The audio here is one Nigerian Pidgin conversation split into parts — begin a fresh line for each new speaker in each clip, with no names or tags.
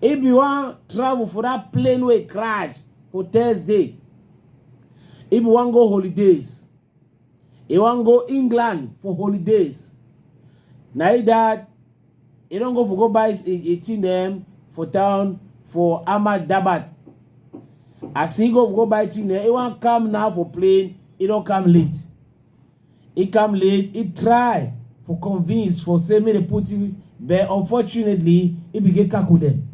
If you wan travel for that plane wey crash for Thursday, if you wan go holidays, you wan go England for holidays, na you that you don go for go buy a thing dem for town for Ahmad Dabat. As he go go buy thing dem, he wan come now for plane, he don come late. He come late, he try for convince for say make dem put you but unfortunately he be get kako dem.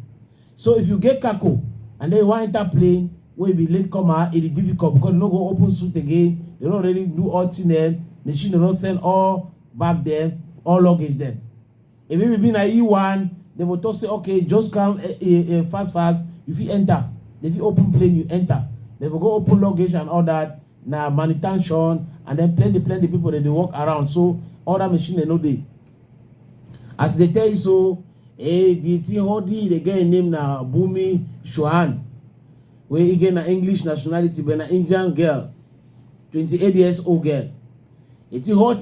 So if you get kako and then you wan enter plane wey be late comer, e dey difficult because dem no go open suit again, dem don already do all thing dem, machine don send all bag dem, all luggage dem. E maybe be na you wan, dem go talk say okay just come eh, eh, eh, fast fast, you fit enter. Dem fit open plane, you enter. Dem go go open luggage and all that. Na manutention and then plenty plenty people dem dey walk around so all that machine dem no dey. As they tell you so, eh, the thing all the they get im name na Bumi Shuan wey e get na English nationality but na Indian girl, 28 years old girl. E thing hot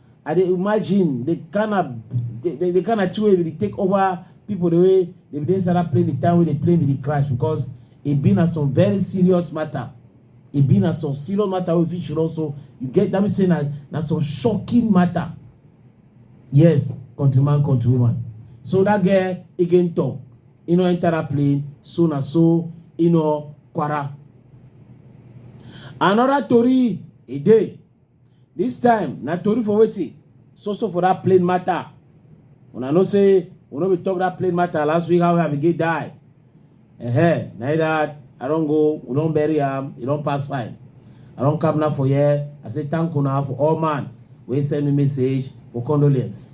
I dey imagine the kind of the, the, the kind of thing wey we dey take over people the way they be dey inside that plane the time wey they plane be dey crash because e be na some very serious matter e be na some serious matter wey fit should also you get that mean say na na some shocking matter yes countryman countrywoman so that girl again talk e no enter that plane so na so e no kwara another tori e dey This time na tori for wetin? So so for that plane matter. Una know say we no be talk that plane matter last week how Abigail die. Uh-huh. Na that I don go, we don bury am, e don pass fine. I don come now for here. I say thank una for all man wey send me message for condolence.